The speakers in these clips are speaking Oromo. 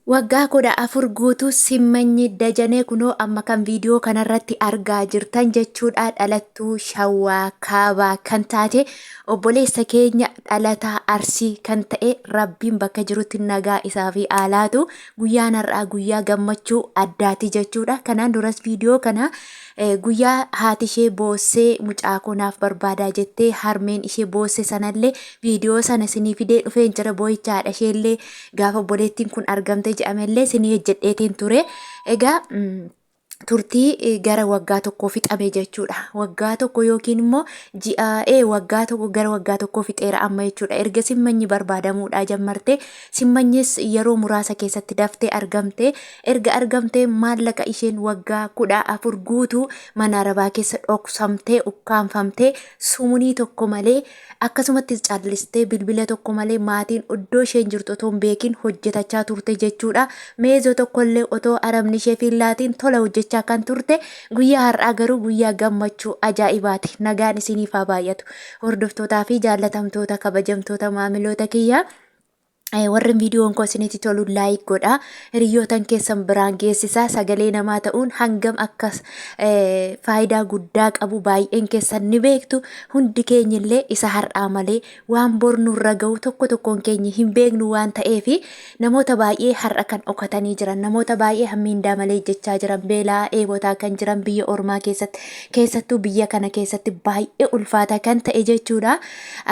Waggaa 14 guutuu Simmanyi Dajanee kunoo amma kan viidiyoo kanarratti argaa jirtan jechuudha dhalattuu Shawaa Kaabaa kan taate obboleessa keenya dhalataa Arsii kan ta'e Rabbiin bakka jirutti nagaa isaa fi aalaatu guyyaan har'aa guyyaa gammachuu addaati jechuudha kanaan duras viidiyoo kana eh, guyyaa haati ishee boossee mucaa koo naaf barbaadaa jettee harmeen ishee boosse sanallee viidiyoo sana isinii fidee dhufeen jira boo'icha haadha isheellee Gaafa obboleettiin kun argamte jedhamellee sinii hojjedheetiin ture. Egaa turtii gara waggaa tokkoo fixame jechuudha. Waggaa tokko yookiin immoo ji'a ee waggaa tokko gara waggaa tokkoo fixeera amma jechuudha. Erga simmanyi barbaadamuudhaa jammarte simmanyis yeroo muraasa keessatti daftee argamte. Erga argamtee maallaqa isheen waggaa kudha afur guutuu mana arabaa keessa dhoksamtee ukkaanfamtee sumunii tokko malee Akkasumattis callistee bilbila tokko malee maatiin oddoo isheen jirtu otoo hin beekiin hojjetachaa turte jechuudha. Meezoo tokkollee otoo arabni isheef hin laatiin tola hojjechaa kan turte guyyaa har'aa garuu guyyaa gammachuu ajaa'ibaati. Nagaan isiniif haa baay'atu. Hordoftootaa fi jaallatamtoota kabajamtoota maamiloota kiyyaa. Eh, warri viidiyoon koo isinitti tolu laayik godha hiriyyootan keessan biraan geessisa sagalee namaa ta'uun hangam akka eh, faayidaa guddaa qabu baay'een keessan ni beektu hundi keenya illee isa har'aa malee waan bor nurra ga'u tokko tokkoon keenya hin beeknu waan ta'eef namoota baay'ee har'a kan dhokatanii jiran namoota baay'ee hammiindaa malee jechaa jiran beelaa dheebotaa kan jiran biyya ormaa keessatti keessattuu biyya kana keessatti baay'ee ulfaataa kan ta'e jechuudha.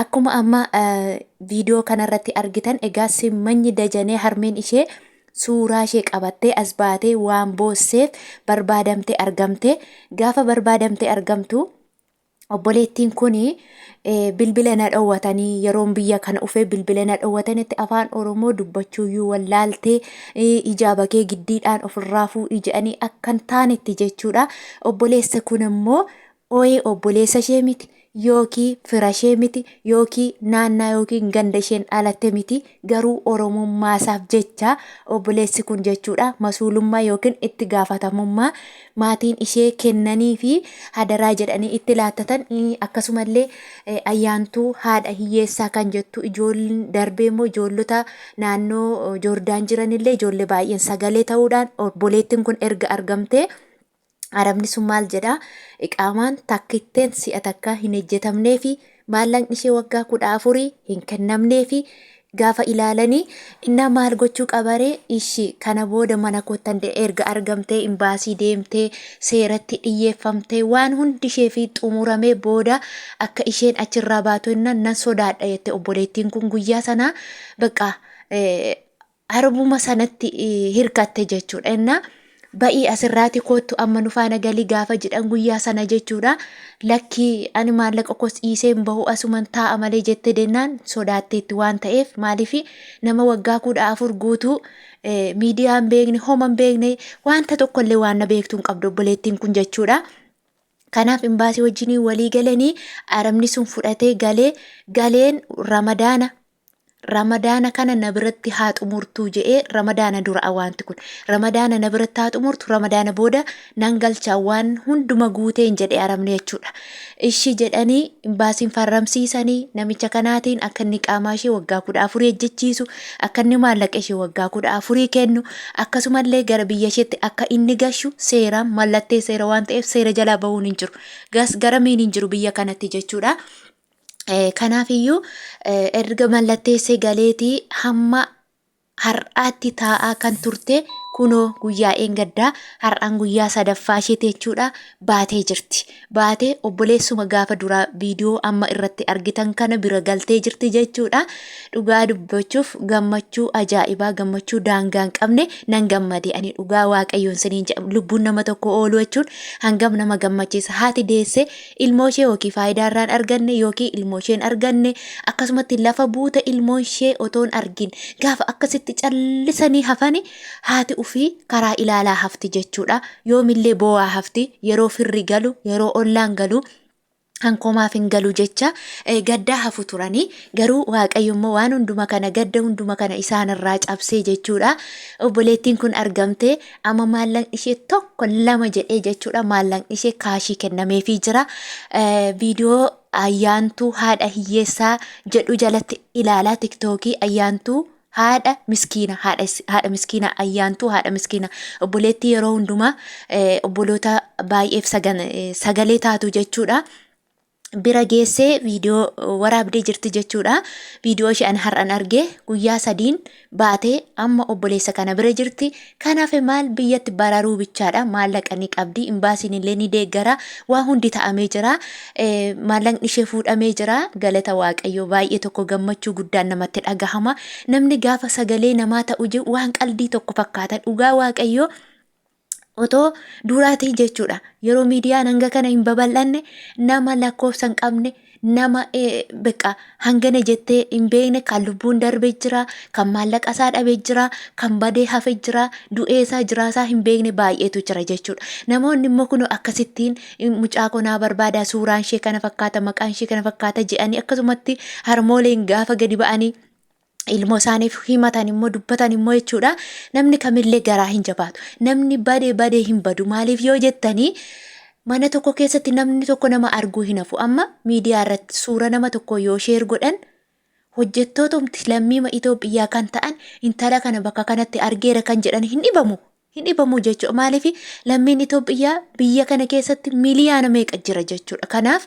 Akkuma amma viidiyoo kanarratti argitan egaa simmanyi dajanee harmeen ishee suuraa ishee qabattee as baatee waan boosseef barbaadamtee argamte. Gaafa barbaadamtee argamtu obboleettiin kun bilbila na dhowwatanii yeroon biyya kana dhufee bilbila na dhowwatanitti afaan Oromoo dubbachuuyyuu wallaaltee ijaa bakee giddiidhaan ofirraa fuudhi jedhanii akkan taanetti jechuudha. Obboleessa kun immoo Ooyee obboleessa ishee miti yookiin fira ishee miti yookiin naannaa yookiin ganda isheen dhalatte miti garuu oromummaa isaaf jecha obboleessi kun jechuudha masuulummaa yookiin itti gaafatamummaa maatiin ishee kennanii fi hadaraa jedhanii itti laattatan akkasumallee ayyaantuu haadha hiyyeessaa kan jettu ijoolleen darbee immoo ijoollota naannoo joordaan jiranillee ijoollee baay'een sagalee ta'uudhaan obboleettiin kun erga argamtee Arabni sun maal jedha? Iqaamaan takkitteen si'a takkaa hin ejjetamneefi maallaqni ishee waggaa kudha afurii hin kennamneefi gaafa ilaalanii innaa maal gochuu qabaree ishi kana booda mana koottan erga argamtee imbaasii deemtee seeratti dhiyyeeffamtee waan hundi ishee fi xumuramee booda akka isheen achirraa baatu innaan nan sodaadha jette obboleettiin kun guyyaa sanaa baqqaa arbuma sanatti hirkatte jechuudha innaa ba'ii asirraati koottu amma nu faana galii gaafa jedhan guyyaa sana jechuudha lakkii ani maallaqa kos dhiisee hin bahu asuman taa'a malee jette dennaan sodaatteetti waan ta'eef maaliif nama waggaa kudha afur guutuu miidiyaa hin beekne homa hin beekne wanta tokkollee waan na beektu hin qabdu obboleettiin kun jechuudha. Kanaaf imbaasii wajjin walii galanii arabni sun fudhatee galee galeen ramadaana ramadaana kana na biratti haa xumurtuu je'ee ramadaana dura'a waanti kun ramadaana na biratti haa xumurtu ramadaana booda nan galcha waan hunduma guuteen jedhe arabni jechuudha ishii jedhanii imbaasiin farramsiisanii namicha kanaatiin akka inni qaamaa ishee waggaa kudha afurii ejjechiisu akka inni maallaqa ishee waggaa kudha afurii kennu akkasumallee gara biyya isheetti akka inni gashu seeraan mallattee seera waan ta'eef seera jalaa bahuun hin jiru gas garamiin hin jiru biyya kanatti jechuudha. Kanaafiyyuu erga mallatteessee galeetii hamma har'aatti taa'aa kan turte kunoo guyyaa eengaddaa har'aan guyyaa sadaffaa isheeti jechuudha baatee jirti. Baatee obboleessuma gaafa duraa viidiyoo amma irratti argitan kana bira galtee jirti jechuudha. Dhugaa dubbachuuf gammachuu ajaa'ibaa gammachuu daangaa hin qabne nan gammade ani dhugaa waaqayyoon siniin jedha lubbuun nama tokko ooluu jechuun hangam nama gammachiisa haati deessee ilmooshee yookiin faayidaa irraa hin arganne yookiin ilmooshee hin arganne akkasumatti lafa buute ilmoonshee otoo hin argin gaafa akkasitti callisanii hafani haati ufii karaa ilaalaa hafti jechuudha yoomillee boo'aa hafti yeroo firri galu yeroo ollaan galu hankomaaf hin galu jecha eh, gaddaa hafu turanii garuu waaqayyo immoo waan hunduma kana gadda hunduma kana isaanirraa cabsee jechuudha obboleettiin kun argamtee Amma maallaqni ishee tokko lama jedhee jechuudha maallaqni ishee kaashii kennameefii jira. Eh, Viidiyoo ayyaantuu haadha hiyyeessaa jedhu jalatti ilaalaa tiktookii ayyaantuu haadha miskiina haadha is- haadha miskiina ayyaantuu haadha miskiina obboleettii yeroo hundumaa eh, obboloota baay'eef sagan- eh, sagalee taatu jechuudha. bira geessee viidiyoo waraabdee jirti jechuudha. Viidiyoo ishee an har'an arge guyyaa sadiin baatee amma obboleessa kana bira jirti. Kanaaf maal biyyatti bararuu bichaadha. Maallaqa ni qabdi. Imbaasiin illee ni deeggara. Waa hundi ta'amee jira. Eh, Maallaqni ishee fuudhamee jira. Galata Waaqayyoo baay'ee tokko gammachuu guddaan namatti dhagahama. Namni gaafa sagalee namaa ta'u jiru waan qaldii tokko fakkaata. Dhugaa Waaqayyoo otoo duuraatii jechuudha yeroo miidiyaan hanga kana hin babal'anne nama lakkoofsa hin qabne nama beqa hangana jettee hin beekne kan lubbuun darbee jira kan maallaqa isaa dhabee jira kan badee hafee jira du'ee isaa jiraa isaa hin beekne baay'eetu jira jechuudha namoonni immoo kun akkasittiin mucaa konaa barbaada suuraan ishee kana fakkaata maqaan ishee kana fakkaata jedhanii akkasumatti harmooleen gaafa gadi ba'anii ilmoo isaaniif himatan immoo dubbatan immoo jechuudha namni kamillee garaa hin jabaatu namni badee badee hin badu maaliif yoo jettanii mana tokko keessatti namni tokko nama arguu hin hafu amma miidiyaa irratti suura nama tokko yoo sheer godhan hojjettootumti lammiima Itoophiyaa kan ta'an intala kana bakka kanatti argeera kan jedhan hin dhibamu hin dhibamu jechuudha maaliif lammiin Itoophiyaa biyya kana keessatti miliyaana meeqa jira jechuudha kanaaf.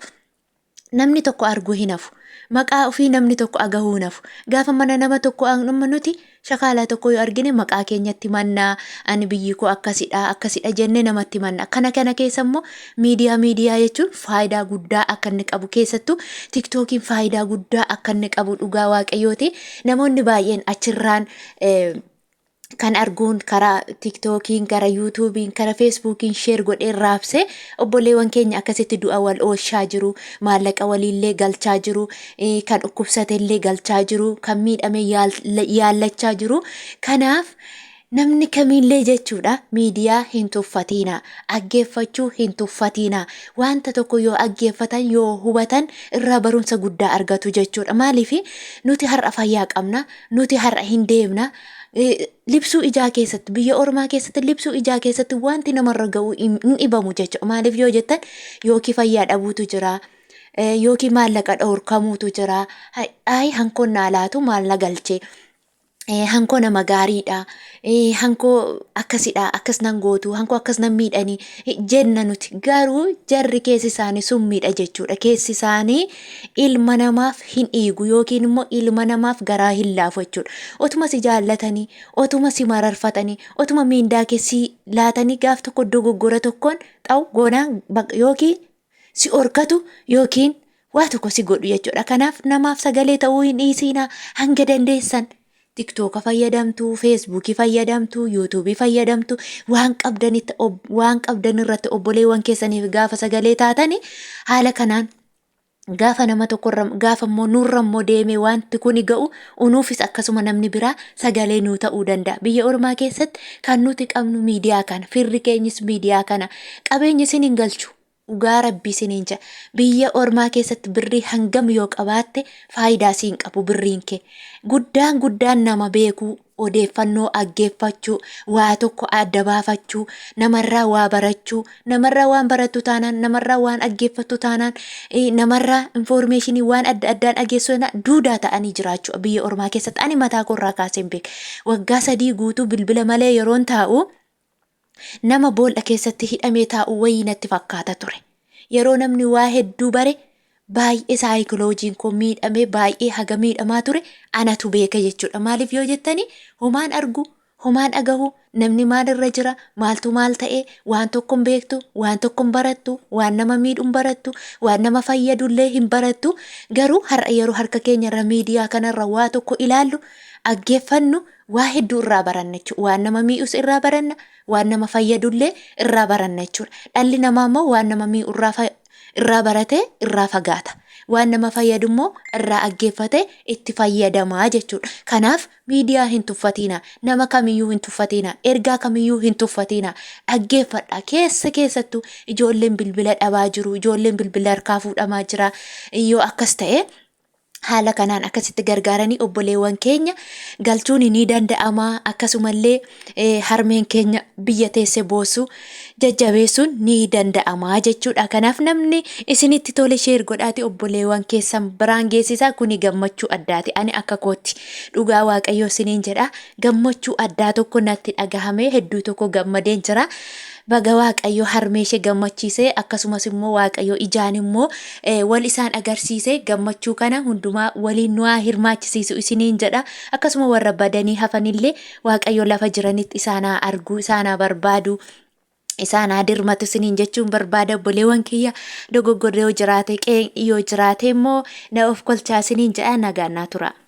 namni tokko arguu hin hafu. Maqaa ofii namni tokko agahuu hin hafu. Gaafa mana nama tokko amma nuti shakaalaa tokko yoo argine maqaa keenyatti mannaa ani biyyi koo akkasidha akkasidha jennee namatti manna. Kana kana keessa immoo miidiyaa miidiyaa jechuun faayidaa guddaa akka inni qabu keessattuu tiktookiin faayidaa guddaa akka inni qabu dhugaa waaqayyooti. Namoonni baay'een achirraan eh, kan arguun karaa tiktookiin gara yuutuubiin gara feesbuukiin sheer godheen raabse obboleewwan keenya akkasitti du'a wal oolchaa jiru maallaqa waliillee galchaa jiru eh, kan dhukkubsatellee galchaa jiru kan miidhame yaal- yaallachaa jiru kanaaf namni kamiillee jechuudha miidiyaa hin tuffatiina aggeeffachuu hin tuffatiina wanta tokko yoo aggeeffatan yoo hubatan irraa barumsa guddaa argatu jechuudha maaliif nuti har'a fayyaa qabna nuti har'a hin deemna libsuu ijaa keessatti biyya ormaa keessatti libsuu ijaa keessatti wanti namarra ga'u hin dhibamu jechuudha. Maaliif yoo jettan yookiin fayyaa dhabuutu jira. Yookiin maallaqa dhorkamuutu jira. Ayi hankoon naa laatu maal na galche. Hankoo nama gaariidha. Hankoo akkasidha akkas nan gootu hankoo akkas nan miidhani jenna nuti garuu jarri keessi isaanii summiidha jechuudha. Keessi isaanii ilma namaaf hin dhiigu yookiin immoo ilma namaaf garaa hin laafu jechuudha. Otuma si jaallatanii, otuma si mararfatanii, otuma miindaa kee si laatanii gaaf tokko dogoggora tokkoon xaa'u goonaan baq- yookiin si horkatu yookiin waa tokko si godhu jechuudha. Kanaaf namaaf sagalee ta'uu hin dhiisiinaa hanga dandeessan. Tiktoka fayyadamtu, Feesbuukii fayyadamtu, Yuutuubii fayyadamtu, waan qabdanitti ob- waan qabdan irratti obboleewwan keessaniif gaafa sagalee taatani haala kanaan gaafa nama tokkorra gaafa immoo nurra immoo deemee wanti kuni ga'u unuufis akkasuma namni biraa sagalee nuu ta'uu danda'a. Biyya ormaa keessatti kan nuti qabnu miidiyaa kana, firri keenyis miidiyaa kana. Qabeenya isin hin galchu. Dhugaa rabbii siniin ja'a biyya ormaa keessatti birrii hangam yoo qabaatte faayidaa siin qabu birriin kee guddaan guddaan nama beekuu odeeffannoo aggeeffachuu waa tokko adda baafachuu namarraa waa barachuu namarraa waan barattu taanaan namarraa waan aggeeffattu taanaan eh, namarraa infoormeeshinii waan adda addaan ageessoo duudaa ta'anii jiraachuu biyya ormaa keessatti ani mataa koorraa kaaseen beeka waggaa sadii guutuu bilbila malee yeroon taa'u Nama boolla keessatti hidhamee taa'u wayii natti fakkaata ture. Yeroo namni waa hedduu bare baay'ee saayikiloojiin koo miidhamee baay'ee haga miidhamaa ture anatu beeka jechuudha. Maaliif yoo jettanii homaan argu, homaan dhagahu, namni maal irra jira, maaltu maal ta'e, waan tokko hin beektu, waan tokko hin barattu, waan nama miidhu hin barattu, waan nama fayyadu illee hin barattu. Garuu har'a yeroo harka keenya irra miidiyaa kanarra waa tokko ilaallu, dhaggeeffannu, Waa hedduu irraa baranna jechuudha. Waan nama mii'us irraa baranna, waan nama fayyadullee irraa baranna jechuudha. Dhalli namaa immoo waan nama mii'u irraa fa- irraa baratee irraa fagaata. Waan nama fayyadu immoo irraa aggeeffatee itti fayyadamaa jechuudha. Kanaaf miidiyaa hin tuffatiina, nama kamiyyuu hin tuffatiina, ergaa kamiyyuu hin tuffatiina. Dhaggeeffadha. Keessa keessattuu ijoolleen bilbila dhabaa jiru, ijoolleen bilbila harkaa fuudhamaa jira. Yoo akkas ta'e haala kanaan akkasitti gargaaranii obboleewwan keenya galchuun ni danda'ama akkasumallee eh, harmeen keenya biyya teesse boosu jajjabeessuun ni danda'ama jechuudha kanaaf namni isinitti tole sheer godhaati obboleewwan keessan biraan geessisaa kuni gammachuu addaati ani akka kootti dhugaa waaqayyoo isiniin jedha gammachuu addaa tokko natti dhagahame hedduu tokko gammadeen jira Baga waaqayyo harmee ishee gammachiise akkasumas immoo waaqayyo ijaan immoo wal isaan agarsiise gammachuu kana hundumaa waliin nu haa hirmaachisiisu isiniin jedha akkasuma warra badanii hafanillee waaqayyo lafa jiranitti isaan haa argu isaan haa barbaadu isaan haa dirmatu isiniin jechuun barbaada obboleewwan kiyya dogoggorri yoo jiraate qeeqni yoo jiraate immoo na of kolchaa isiniin jedha nagaan naa tura.